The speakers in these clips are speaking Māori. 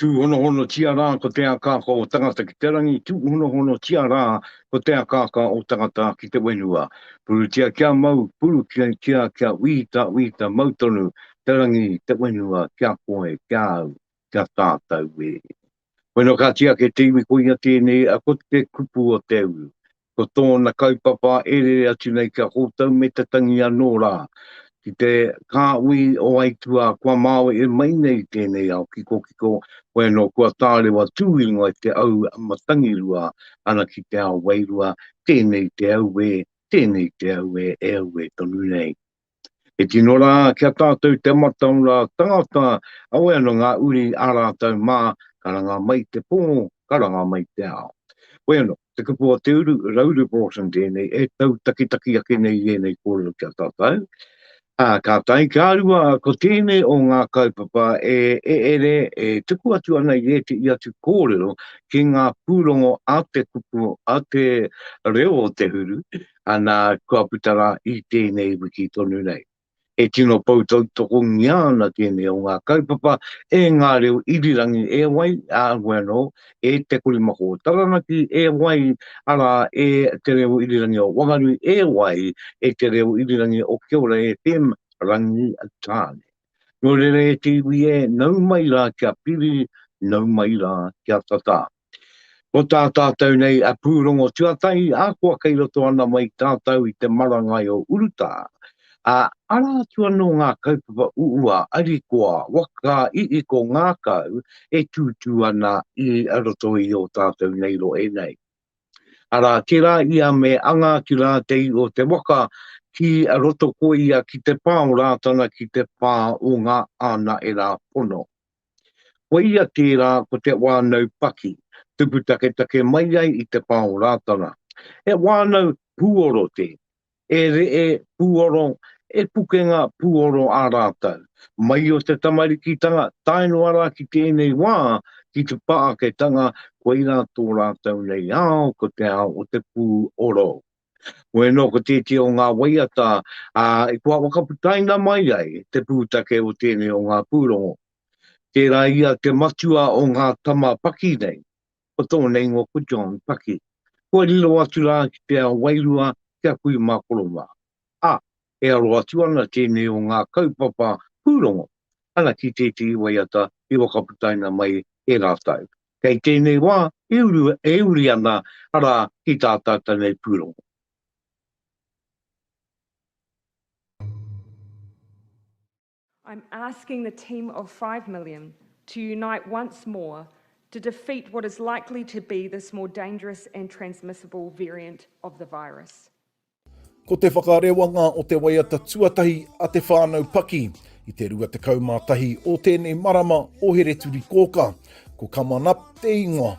Tūhonohonotia rā ko te akaaka o tangata ki te rangi, tūhonohonotia rā ko te akaaka o tangata ki te whenua. Purutia kia mau, purutia kia wīta, wīta mau tonu te rangi, te whenua ki a koe, ki a au, ki a tātou e. Koinā ka tiaki te iwi koia tēnei, ko te kupu o te uru. Ko tōna kaupapa e rere atu nei kia kōtau me te tangi anō rā ki te kāhui o aituā kua māwe e mai nei i tēnei ao kikokiko, hoi anō kua tārewa tū ingoa i te au matangirua ana ki te ao wairua, tēnei te auē, tēnei te auē e auē tonu nei. E tino rā ki a tātou te mata o ngā tangata, awe ana ngā uri ā rātou mā, ka ranga mai te pō, ka ranga mai te ao. Hoi anō, te kupu o te uru, Rauru Broughton tēnei, e tau takitaki ake nei i ēnei kōrero ki a tātou. Ā, ka tae ki a rua, ko tēnei o ngā kaupapa e ere, e tuku atu ana i ētehi atu kōrero ki ngā pūrongo a te kupu, a te reo o te huru, ana kua puta rā i tēnei wiki tonu nei. E tino pou tautokongia ana tēnei o ngā kaupapa e ngā reo irirangi e wai, ā, heoi anō, e Te Korimako o Taranaki e wai, arā, e Te Reo Irirangi o Wanganui e wai, e Te Reo Irirangi o Kiora FM, Rangitāne. Nō reira e te iwi e, nau mai rā kia piri, nau mai rā kia tatā. Ko tā tātou nei a Pūrongo Tuatahi, ahakoa kei roto ana mai tātou i te marangai o urutā, ā, arā atu anō ngā kaupapa uua, arikoa, waka, iiko, ngākau e tūtū ana i roto i ō tātou nei rohe nei. Arā, tērā ia me anga ki rātei o te waka ki roto ko ia ki te pā o Rātana ki te pā o ngā ānaera pono. Ko ia tērā ko te wānau paki, tupu taketake mai ai i te pā o Rātana. He wānau pūoro tē, E reʻe pūoro, e pukenga pūoro a rātou. Mai o te tamarikitanga tae noa rā ki tēnei wā, ki te pāketanga, koirā tō rātou nei ao ko te ao o te pūoro. Koia nō ko tētehi o ngā waiata i kua whakaputaina mai ai te pūtake o tēnei o ngā pūrongo. Tērā ia te matua o ngā tama paki nei. Ko tōna ingoa ko John Paki. Kua riro atu rā ki te ao wairua ki a kui mā Korowā. Ā, e aro atu ana tēnei o ngā kaupapa pūrongo ana ki tētehi waiata i whakaputaina mai e rātou. Kei tēnei wā e uru, e uri ana rā ki tā tātou nei pūrongo. I'm asking the team of five million to unite once more to defeat what is likely to be this more dangerous and transmissible variant of the virus. Ko te whakarewanga o te waiata tuatahi a te whānau Paki i te 21 o tēnei marama o Hereturikōkā, ko Come On Up te ingoa.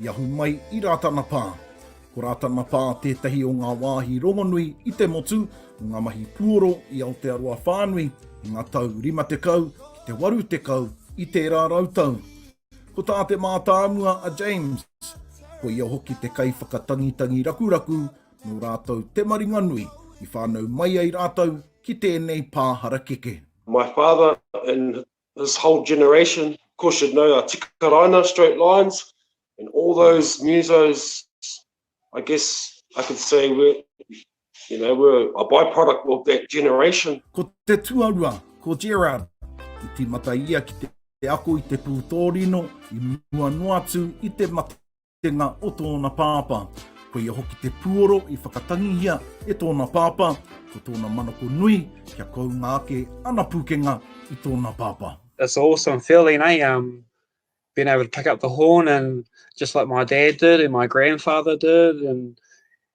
I ahu mai i Rātana Pā. Ko Rātana Pā tētahi o ngā wāhi rongonui i te motu o ngā mahi puoro i Aotearoa whānui i ngā tau 50 ki te 80 i tērā rautau. Ko tā te mātāmua a James, ko ia hoki te kaiwhakatangitangi rakuraku nō rātou te maringanui i whānau mai ai rātou ki tēnei pā harakeke. My father in This whole generation of course should know a Tikaraina, Straight Lines and all those musos I guess I could say were you know were a byproduct of that generation. Ko te tuarua, ko Gerard, i timata ia ki te ako i te pūtōrino i mua noa atu i te mata kitenga o tōna pāpā. Ko ia hoki te puoro i whakatangihia e tōna pāpā, ko tōna manako nui kia kounga ake ana pūkenga i tōna pāpā. It's an awesome feeling, eh? Um, being able to pick up the horn and just like my dad did and my grandfather did and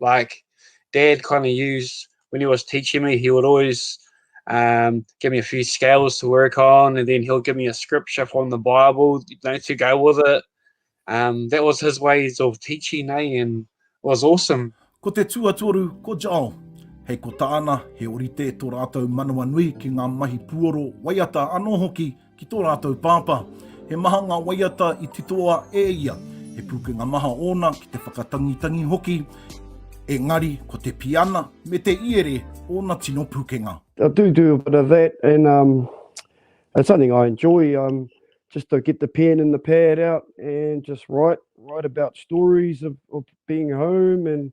like dad kind of used when he was teaching me he would always um, give me a few scales to work on and then he'll give me a scripture from the bible you know, to go with it um, that was his ways of teaching eh? and it was awesome ko te tuatoru ko Joel hei ko tāna he orite tō rātou manawa nui ki ngā mahi puoro waiata anō hoki Ki tō rātou pāpā, he maha ngā waiata i titoa e ia, he pūkenga maha ōna ki te whakatangitangi hoki, engari ko te piana me te iere ōna tino pūkenga. I do do a bit of that and um, it's something I enjoy um, just to get the pen and the pad out and just write write about stories of, of being home and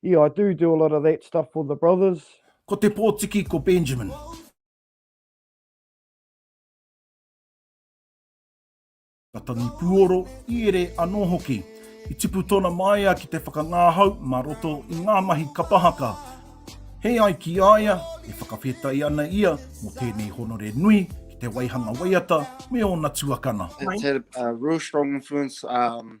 Yeah, I do do a lot of that stuff for the brothers. Ko te pōtiki ko Benjamin. ka tangi puoro, i ere anō hoki. I tipu tōna māia ki te whakangāhau mā roto i ngā mahi kapa haka. Hei ai ki a ia, e whakawhetai ana ia mō tēnei honore nui ki te waihanga waiata me ōna tuakana. It's had a real strong influence um,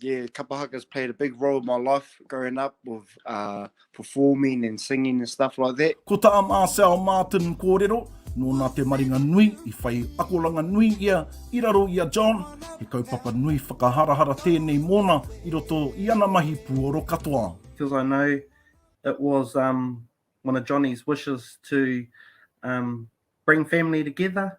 Yeah, kapa haka's played a big role in my life growing up with uh, performing and singing and stuff like that. Ko tā Marcel Martin kōrero, nōna te maringa nui i whai akoranga nui ia i raro i a John, he kaupapa nui whakaharahara tēnei mōna i roto i ana mahi puoro katoa. Because I know it was um, one of Johnny's wishes to um, bring family together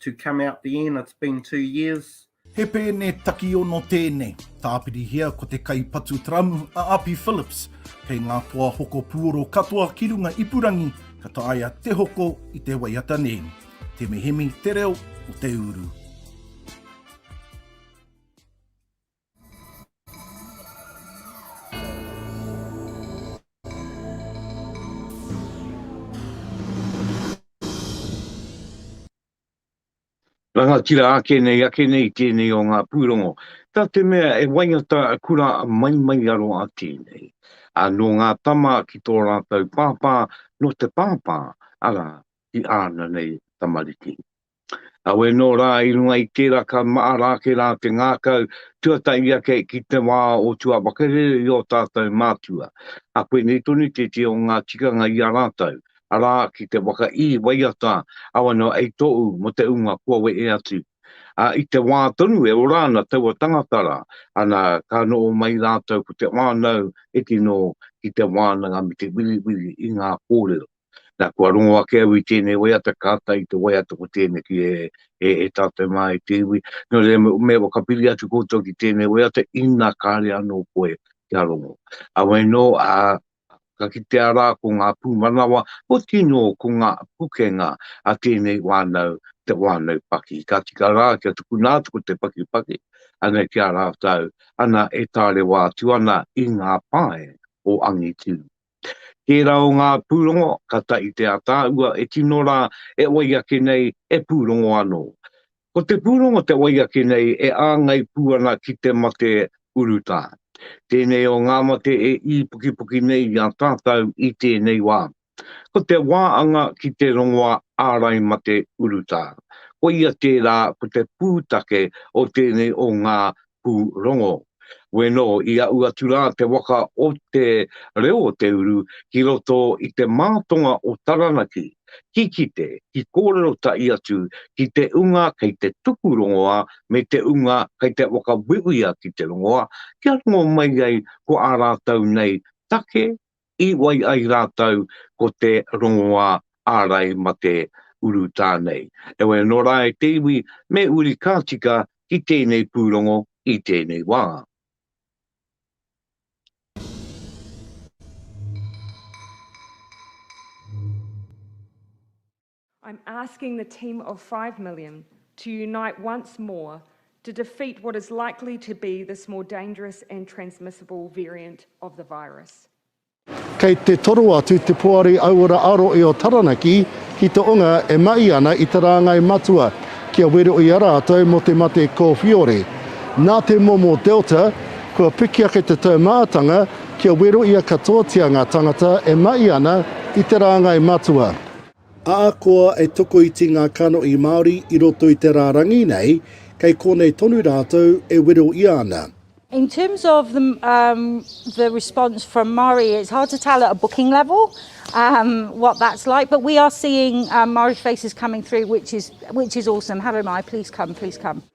to come out the end, it's been two years. He pēne takiono tēnei. Tāpirihia ko te kaipatu taramu a Api Phillips. Kei ngā toa hoko puoro katoa ki runga ipurangi ka taea te hoko i te waiata nei. Te mehemi te reo o te uru. Rangatira ake nei ake nei tēnei o ngā pūrongo, tā te mea e waiata kura mai mai aro a tēnei. A nō ngā tama ki tō rātou pāpā, nō te pāpā, arā, ki āna nei tamariki. Kawe nō rā i runga i tērā ka mahara ake rā te ngākau tuatahi ake ki te wā o tua whakarere i ō tātou mātua. Ka pēnei tonu tētehi o ngā tikanga i a rātou, arā, ki te waka ī, waiata, awa noa ei tōu mō te ūnga kua wehe atu. Ā, i te wā tonu e ora ana taua tangata rā, ana, ka noho mai rātou ko te whānau e tino ki te wānanga me te wiriwiri i ngā kōrero. Nā, kua rongo ake au i tēnei waiata, kāta i te waiata ko tēneki e, e, e tātou mā e te iwi. Nō reira, me, me whakapiri atu koutou ki tēnei waiata, ina kāre anō koe kia rongo. Awe nō, ā, ka kitea rā ko ngā pūmanawa, ko tino, ko ngā pukenga a tēnei wānau, te wānau paki. Ka tika rā kia tukuna atu ko te pakipaki, anei ki a rātou, ana e tārewa atu ana i ngā pae o Angitu. Tērā o ngā pūrongo, kātahi te ātaahua e tino rā e wai ake nei, e pūrongo anō. Ko te pūrongo te wai ake nei e āngai pū ana ki te mate urutā. Tēnei o ngā mate e īpukipuki nei i a tātau i tēnei wā. Ko te wā anga ki te rongoa ārai mate urutā. Koia tērā ko te pūtake o tēnei o ngā pūrongo. Weno i aʻu atu rā te waka o Te Reo o Te Uru ki roto i te mātonga o Taranaki, ki kite, ki kōrero taʻi atu ki te unga kei te tuku rongoā me te unga kei te whakawhiwhia ki te rongoā kia rongo mai ai ko ā rātou nei take I wai ai rātou ko te rongoā ārai mate urutā nei. Heoi anō rā e te iwi me uri ka tika ki tēnei pūrongo i tēnei wā. I'm asking the team of five million to unite once more to defeat what is likely to be this more dangerous and transmissible variant of the virus. Kei te toro atu te Poari Auora Aro i o Taranaki ki te onga e mahi ana i te rāngai matua kia wero i a rātou mō te mate kōwhiore. Nā te momo Delta, kua piki ake te taumātanga kia wero i a katoatia ngā tangata e mahi ana i te rāngai matua. Ahakoa e tokoiti ngā kanohi Māori i roto i te rārangi nei, kei konei tonu rātou e wero ia ana. In terms of the um, the response from Maori, it's hard to tell at a booking level um, what that's like. But we are seeing um, Maori faces coming through, which is which is awesome. Hello, Mai, please come, please come.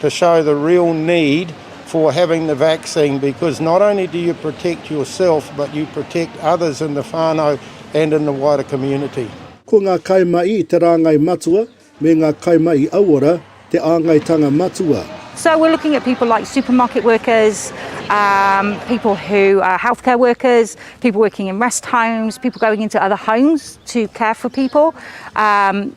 to show the real need for having the vaccine because not only do you protect yourself but you protect others in the whānau and in the wider community. Ko ngā kaimahi i te rāngai matua me ngā kaimahi auora te āngaitanga matua. So we're looking at people like supermarket workers, um, people who are healthcare workers, people working in rest homes, people going into other homes to care for people. Um,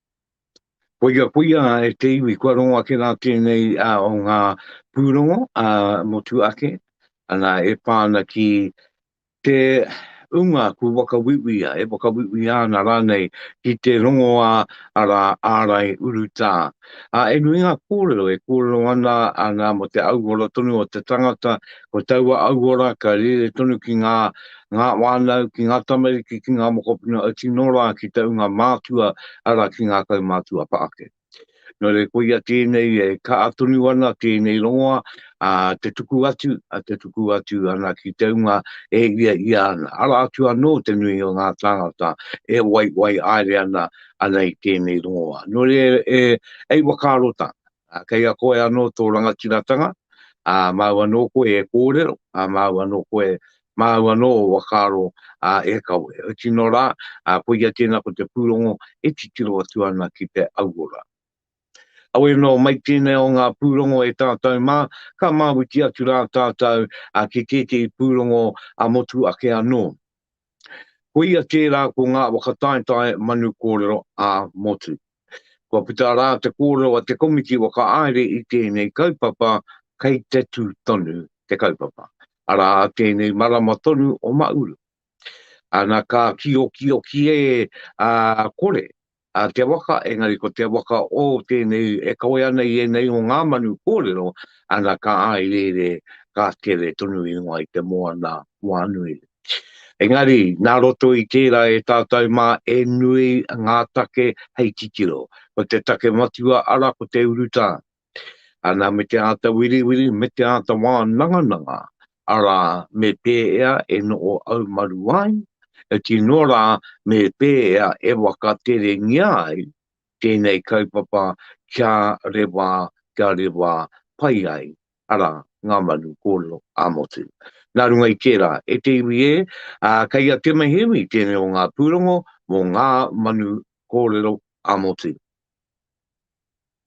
Koia, koia e te iwi, kua rongo ake rā tēnei o ngā pūrongo motu ake, ana e pā ana ki te ūnga kua whakauiuia, e whakauiuia ana rānei ki te rongoā arā ārai urutā. Ā, e nui ngā kōrero e kōrero ana, ana mō te auora tonu o te tangata, ko taua auora ka rere tonu ki ngā ngā whānau, ki ngā tamariki, ki ngā mokopuna e tino rā ki te ūnga mātua, arā, ki ngā kaumātua pa ake. Nō reira, koia tēnei e kaha tonu ana tēnei rongoa, ā, te tuku atu, ā, te tuku atu ana ki te ūnga e hiahia ana, arā atu anō te nui o ngā tāngata e waiwai haere ana, ana i tēnei rongoa. Nō reira, e, hei whakaaro tāna. Ā, kei a koe anō tō rangatiratanga, ā, māu anō koe e kōrero, ā, māu anō koe, māu anō o whakaaro, ā, e kawe. He tino rā, ā, koia tēnā ko te pūrongo e titiro atu ana ki te auora. Auē nō, mai tēnei o ngā pūrongo e tātou mā, ka mawiti atu rā tātou, ā, ki tētehi pūrongo, ā, motu ake anō. Koia kē rā ko ngā whakataetae manu kōrero ā-motu. Kua puta rā te kōrero a te komiti whakahaere i tēnei kaupapa kei te tū tonu te kaupapa, arā tēnei marama tonu o Māuru. Ana ka kīokioki e kore a te waka, engari ko te waka o tēnei e kawea ana i ēnei o ngā manu kōrero, ana ka āireire, ka tere tonu ingoa i te moana wānui. Engari, nā roto i tērā e tātou mā e nui ngā take hei titiro. Ko te take matua ara ko te urutā, Ana me te āta wiriwiri, me te āta wānangananga, arā, me pēea e noho haumaru ai, e tino rā me pēea e wakaterengia ai tēnei kaupapa kia rewā, kia rewā pai ai, arā, ngā manu kōrero ā-motu. Nā runga i tērā, e te iwi ē, kei a Te Maihiwi tēnei o ngā pūrongo mō ngā manu kōrero ā-motu.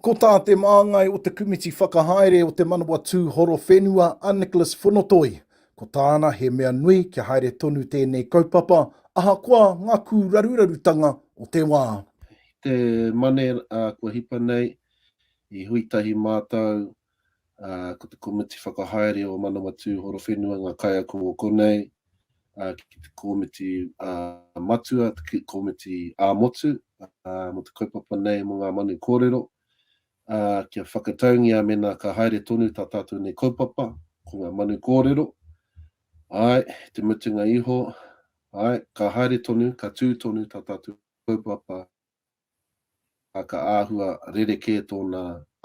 Ko tā te māngai o te Kumiti Whakahaere o Te Manawatū Horowhenua a Nicholas Fonotoi, ko tāna he mea nui kia haere tonu tēnei kaupapa ahakoa ngā kūrarurarutanga o te wā. I te Mane kua hipa nei, i hui tahi mātou ā, ko te komiti whakahaere o Manawatū Horowhenua ngā kaiako o konei, ā, ki te komiti, ā, matua, te komiti ā-motu, ā, mō te kaupapa nei mō ngā manu kōrero, ā, kia whakataungia mēnā ka haere tonu tā tātou nei kaupapa, ko ngā manu kōrero, āe, i te mutunga iho, āe, ka haere tonu, ka tū tonu tā tātou kaupapa, ā, ka āhua rerekē tōna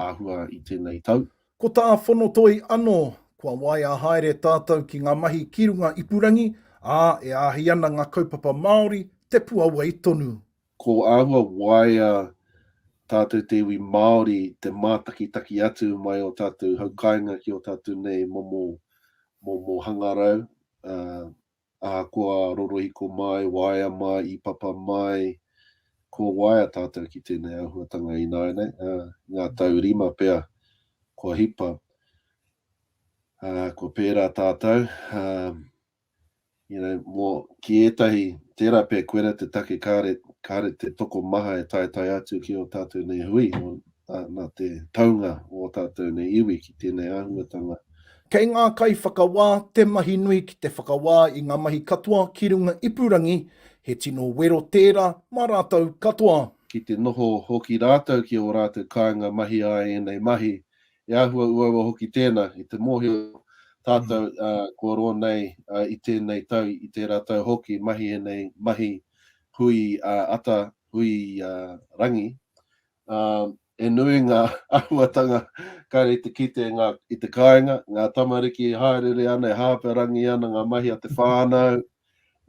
āhua i tēnei tau. Ko tā Whonotoi anō, kua waea haere tātou ki ngā mahi ki runga ipurangi, ā, e āhei ana ngā kaupapa Māori te puawai tonu. Ko āhua waea tātou te iwi Māori te mātakitaki atu mai ō tātou haukāinga ki ō tātou nei momo hangarau, ā, Ahakoa rorohiko mai, waea mai, ipapa mai, kua waea tātou ki tēnei āhuatanga ināianei, ā, i ngā tau rima pea kua hipa, ā, kua pērā tātou, ā, you know, mō, ki ētahi, tērā pea koirā te take kāre, kāre te tokomaha e taetae atu ki ō tātou nei hui, ā, nā te taunga o ō tātou nei iwi ki tēnei āhuatanga. Kei ngā kaiwhakawā te mahi nui ki te whakawā i ngā mahi katoa ki runga ipurangi, he tino wero tērā mā rātou katoa. Ki te noho hoki rātou ki ō rātou kāinga mahi a ēnei mahi, e āhua uaua hoki tēnā i te mōhio tātou kua roa nei i tēnei tau, i tērā tau hoki mahi ēnei mahi hui ata, hui rangi, He nui ngā āhuatanga kāre i te kite i te kāinga, ngā tamariki e hāereere ana, e hāparangi ana ngā mahi a te whānau,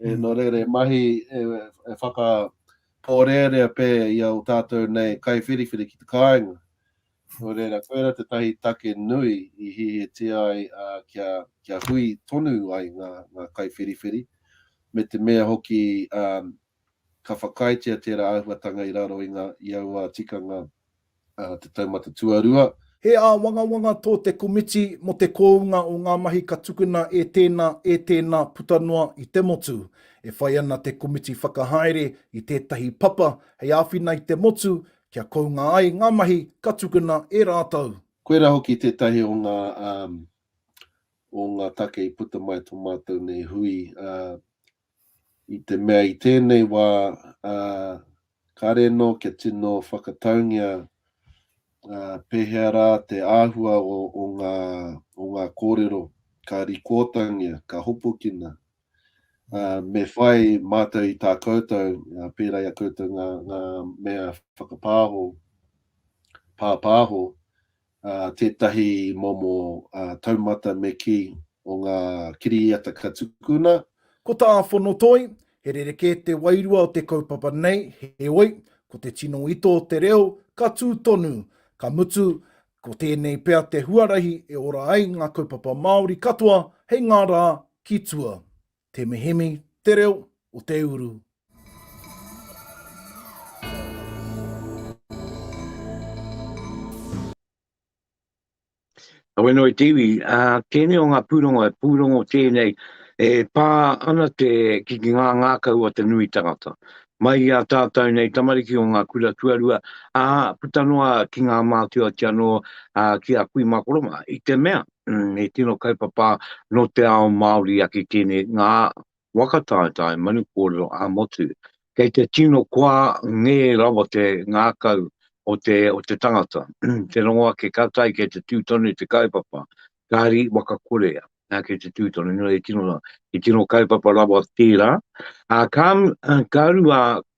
nō reira he mahi e whakapōrearea pē i a tātou nei kaiwhiriwhiri ki te kāinga. Nō reira, koirā tētahi take nui i hihitia ai kia hui tonu ai ngā kaiwhiriwhiri, me te mea hoki Ka whakaaetia tērā āhuatanga i raro i ngā i aua tikanga a Te Taumata Tuarua. He āwangawanga tō te komiti mō te kōunga o ngā mahi ka tukuna e tēnā, e tēnā puta noa i te motu. E whai ana te komiti whakahaere i tētahi papa hei āwhina i te motu kia kounga ai ngā mahi ka tukuna e rātou. Koirā hoki tētahi o ngā o ngā take i puta mai tō mātou nei hui, i te mea i tēnei wā, ā, kāre anō kia tino whakataungia, ā, pēhea rā te āhua o, o ngā, o ngā kōrero ka rikoatangia, ka hopukina. Ā, me whai mātou i tā koutou, ā, pērā i a koutou ngā, ngā mea whakapāho, pāpāho, tētahi momo taumata me kī o ngā kiriata ka tukuna. Ko tā Fonotoi, he rerekē te wairua o te kaupapa nei, heoi, ko te tino ito o te reo, ka tū tonu, ka mutu, ko tēnei pea te huarahi e ora ai ngā kaupapa Māori katoa hei ngā rā ki tua. Te Mihimi, Te Reo o Te Uru. Aweno i te iwi, a tēnei o ngā pūrongo, e pūrongo tēnei, e pā ana te ki ki ngā ngākau o te nui tangata. Mai i a tātou nei tamariki o ngā kura tuarua, a puta noa ki ngā mātua ki anō, a ki a kui makoroma, i te mea. he tino kaupapa no te ao Maori ake tene nga waka taetae manu korero a motu. Kei te tino koa nge rawa te ngakau o te o te tangata. te rongo ake ka tai kei te tu tonu te kaupapa. Kari waka kore a kei te tu tonu no e tino ra. He tino kaupapa rawa tera. A ka ka rua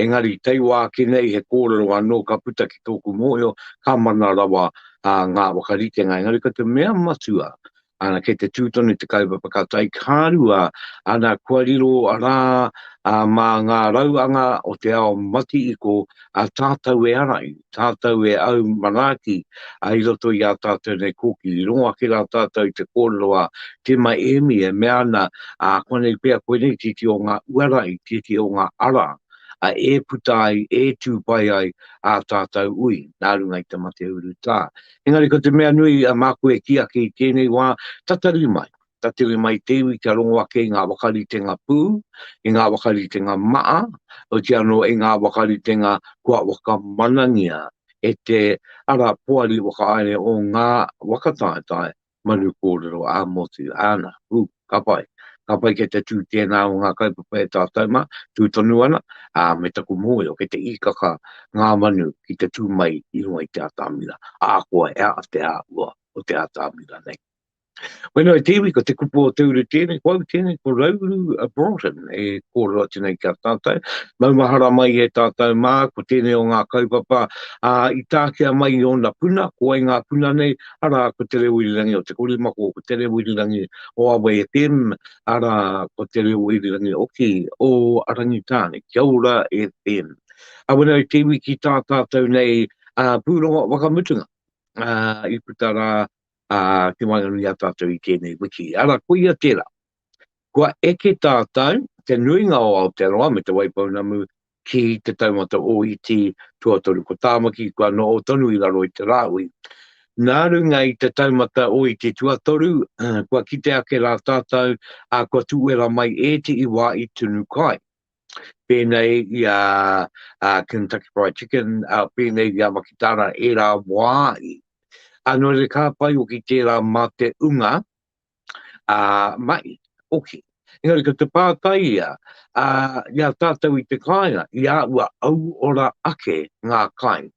Engari, tei wā ki nei he kōrero anō ka puta ki tōku mōhio, ka mana rawa ngā whakaritenga. Engari ko te mea matua, ana, kei te tū tonu te kaupapa ka tae ki ngā rua, ana, kua riro rā mā ngā rauanga o te ao mati-iko, a tātou e ara i. tātou e au manaaki ai i roto i ā tātou nei kōkiri. I rongo ake rā tātou i te kōrero a Tīma Ēmi e mea ana, ā, koinei pea, koinei tēti o ngā uara i tēti o ngā ara, ā, e puta ai, e tū pai ai ā tātou ui, nā runga i te mate urutā. Engari ko te mea nui, ā, māku e kī ake i tēnei wā, tatari mai. ka tere mai te iwi kia rongo ake i ngā wakaritenga pū, i ngā wakaritenga maa, oiti anō i ngā wakaritenga kua whakamanangia e te ara poari whakahaere o ngā whakataetae manu kōrero ā-motu, āna, ū, ka pai. Ka pai kei te tū tēnā o ngā kaupapa e tātou mā, tū tonu ana, ā, me taku mōhio kei te īkaka ngā manu ki te tū mai i runga i te atamira, ahakoa he aha te āhua o te atamira nei. Whenua i te iwi, ko te kupu o te uru tēnei, ko au tēnei, ko Rauru a Broughton, e kōrero atu nei ki a tātou. Maumahara mai e tātou mā, ko tēnei o ngā kaupapa ā, i tākia mai i ōna puna, ko wai ngā puna nei, arā, ko Te Reo Irirangi o Te Korimako, ko Te Reo Irirangi o Awa FM, arā, ko Te Reo Irirangi hoki o Rangitāne, Kia Ora FM. Ā, whenua i te iwi ki tā tātou nei ā, pūrongo whakamutunga, ā, i puta rā ā, te waenganui a tātou i tēnei wiki. Arā, koia tērā. Kua eke tātou, te nuinga o Aotearoa me Te Waipounamu, ki Te Taumata Ōiti Tuatoru. Ko Tāmaki kua noho tonu i raro i te rāhui. Nā runga i Te Taumata Ōiti Tuatoru, kua kite ake rā tātou, ā, kua tūwera mai ētehi wā i tunu kai. pēnei i a Kentucky Fried Chicken, pēnei i a Makitara, e rā wā i. Anō re kā pai o ki tērā mā te unga, a, mai, oki. Engari ko te pātai ia, a, i a tātou i te kāinga, i a ua auora ake ngā kai.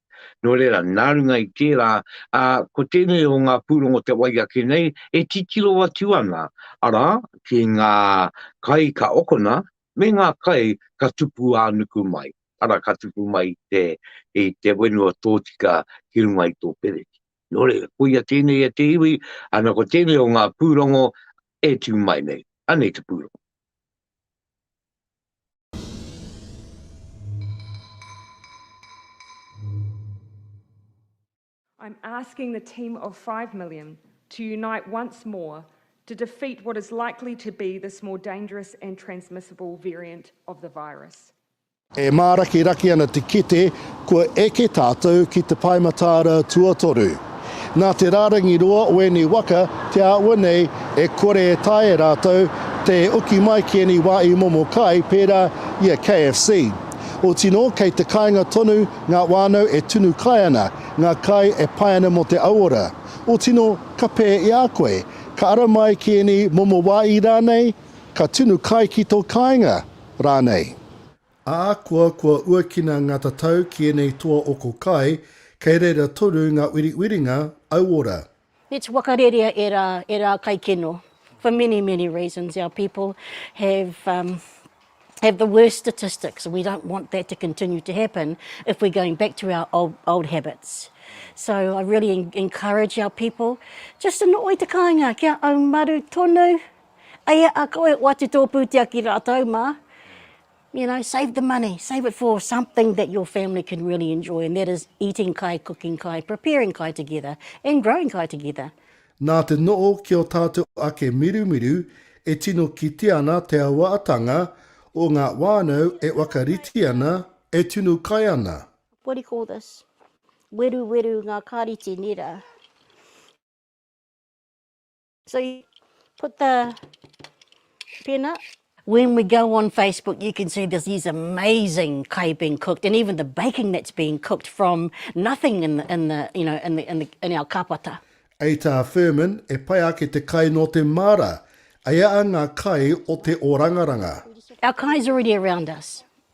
Nō reira, nā runga i tērā, a, ko tēnei o ngā pūrongo te wai ake nei, e titiro atu ana, arā, ki ngā kai ka okona, me ngā kai ka tupu ā-nuku mai, arā, ka tupu mai i te, i te whenua tōtika ki runga i tō pereti. Nō reira, koia tēnei e te iwi, ana ko tēnei o ngā pūrongo e tū mai nei. Anei te pūrongo. I'm asking the team of five million to unite once more to defeat what is likely to be this more dangerous and transmissible variant of the virus. E mārakiraki ana te kete kua eke tātou ki te Pae Mataara tuatoru. Nā te rārangi roa o ēnei waka te āhua nei e kore e taea e rātou te oki mai ki ēnei wā i momo kai pērā i a KFC. Otinō kei te kāinga tonu Ngā whānau e tunu kai ana, ngā kai e pai ana mō te auora. O tino, ka pē i a koe. Ka ara mai ki ēnei momo wāhi rānei, ka tunu kai ki tō kāinga, rānei. Ahakoa kua uakina ngā tatau ki ēnei toa oko kai, kei reira toru ngā wiriwiringa auora. Let's whakarerea e ra, e ra kaikeno, for many, many reasons our people have um, have the worst statistics and we don't want that to continue to happen if we're going back to our old, old habits. So I really en encourage our people, just in oi te kāinga, kia au maru tonu, eia a koe o atu tō pūtea ki rātou mā, You know, save the money, save it for something that your family can really enjoy and that is eating kai, cooking kai, preparing kai together and growing kai together. Nā te noho ki ō tātou ake mirumiru e tino kitea ana te auaatanga o ngā whānau e whakarite ana, e tunu kai ana. What do you call this? Weruweru ngā kāreti, nē rā. So you put the peanut. When we go on Facebook, you can see there's these amazing kai being cooked, and even the baking that's being cooked from nothing in the, in the you know in the, in, the, in our kapata. Ei tā Firmin, e pai ake te kai nō te māra, eia ngā kai o te orangaranga. Our kai's already around us.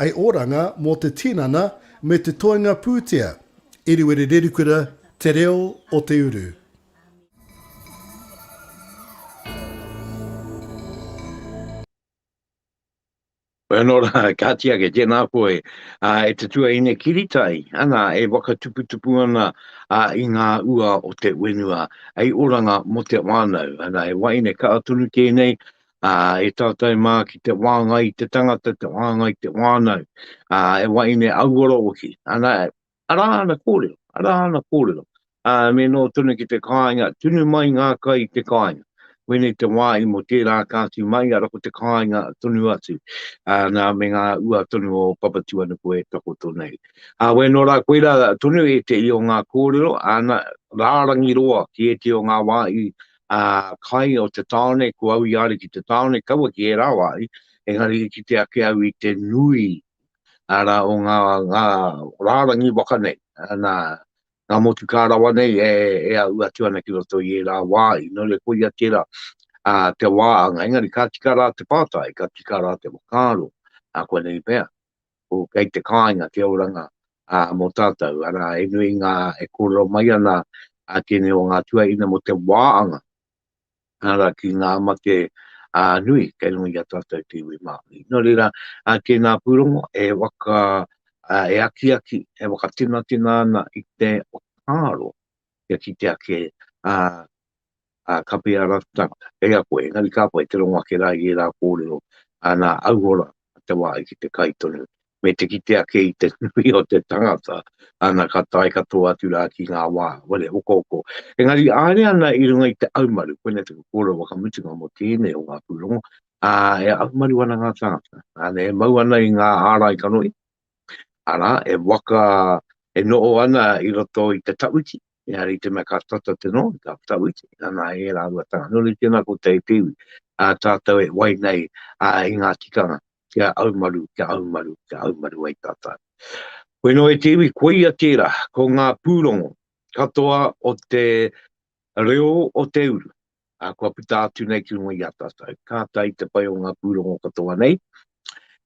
I Oranga mō te tinana me te toenga pūtea. Eriwere Rerikura Te Reo o te Uru. Nō rā, kāti ake, tēnā koe e te tuaine kiritai, ana, e whakatuputupu ana i ngā ua o te whenua. I Oranga mō te whānau, ana, he waeine kaha tonu tēnei, ā, e tātou mā ki te wāngai i te tangata, te wāngai i te whānau, ā, he wahine auora hoki. Ana, arā ana kōrero, arā ana kōrero, ā, me noho tonu ki te kāinga, tunu mai ngā kai i te kāinga. Koinei te wāhi mō tērā ka tū mai, arā ko te kāinga tonu atu, ā, nā, me ngā ua tonu o Papatūānuku e takoto nei. Ā, wai nō rā, koirā tonu ētehi o ngā kōrero, āna, rārangi roa ki ētehi o ngā wāhi ā, kai o te tāone, ko au i aria ki te tāone, kaua ki ērā wā ai, engari i kite ake au i te nui, arā, o ngā, ngā rārangi waka nei, nā, ngā motukā rawa nei e, e āu atu ana ki roto i ērā wā ai, nō reira, koia tērā, ā, te wā anga, engari ka tika rā te pātai, ka tika rā te whakaaro, ā, koinei pea. ko kei te kāinga te oranga mō tātou, arā, he nui ngā e kōrero mai ana a tēnei o ngā tuaina mō te wāanga, arā, ki ngā mate nui kei runga i a tātou te iwi Māori. Nō reira, tēnā pūrongo e waka, e akiaki, e wakatinatena ana i te whakaaro kia kitea kē ā, kapi ā rātou tāngata kei a koe, engari ka pai te rongo ake rā i ērā kōrero, ā, nā Auhora te wāhi ki te kai tonu, me te kite ake i te nui o te tangata, ana, ka tae katoa atu rā ki ngā wā, wale hokohoko. Engari i haere ana i runga i te aumaru, koinei taku kōrero whakamutunga mō tēnei o ngā pūrongo, ā, e aumaru ana ngā tāngata, ā, e mau ana i ngā ārai kanohi, Arā, e waka, e noho ana i roto i te tawhiti, engari i te mea ka tata te noho i tā tawhiti, nana e rāua tanga. Nō reira tēnā koutou e pīwi, ā tātou e wai nei i ngā tikanga kia aumaru, kia aumaru, kia aumaru ai tātou. Koe nō e te iwi, koia tērā, ko ngā pūrongo katoa o te reo o te uru, ā, kua puta atu nei ki runga i a tātou. Ka tae te pai o ngā pūrongo katoa nei,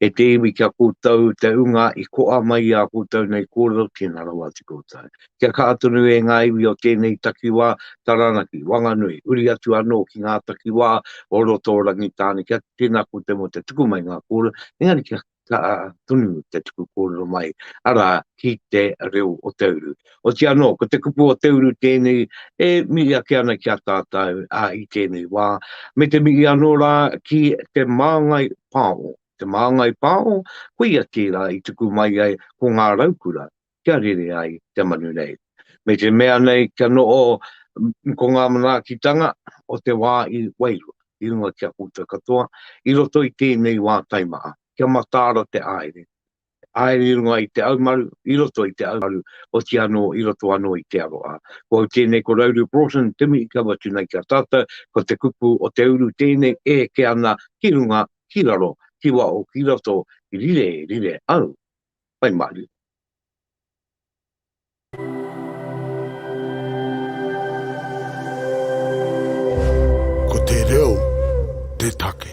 e te iwi ki a koutou te ūnga i koa mai i a koutou nei kōrero, tēnā rawa atu koutou. Kia kaha tonu e ngā iwi o tēnei takiwā, Taranaki, Wanganui, huri atu anō ki ngā takiwā o roto o Rangitāne, kia tēnā koutou mō te tuku mai i ngā kōrero, engari kia ka tunu te tuku kōrero mai, arā, ki te reo o te uru. Otiia anō, ko te kupu o te uru tēnei e mihi ake ana ki a tātou i tēnei wā, me te mihi anō rā ki te māngai pāho. Te māngai pāho, koia tērā i tuku mai ai ko ngā raukura, kia rere ai te manu nei. Me te mea nei kia noho ko ngā manaakitanga o te wā i wairua, i runga ki a koutou katoa, i roto i tēnei wā taimaha, kia mataara te haere, haere i runga i te haumaru, i roto i te haumaru, oti anō i roto anō i te aroha. Ko au tēnei ko Rauru Broughton, te mihi kau atu nei ki a tātou, ko te kupu o te uru tēnei e eke ana ki runga, ki raro, ki waho, ki roto, rire, rire au, Whai maru. Ko te reo te take.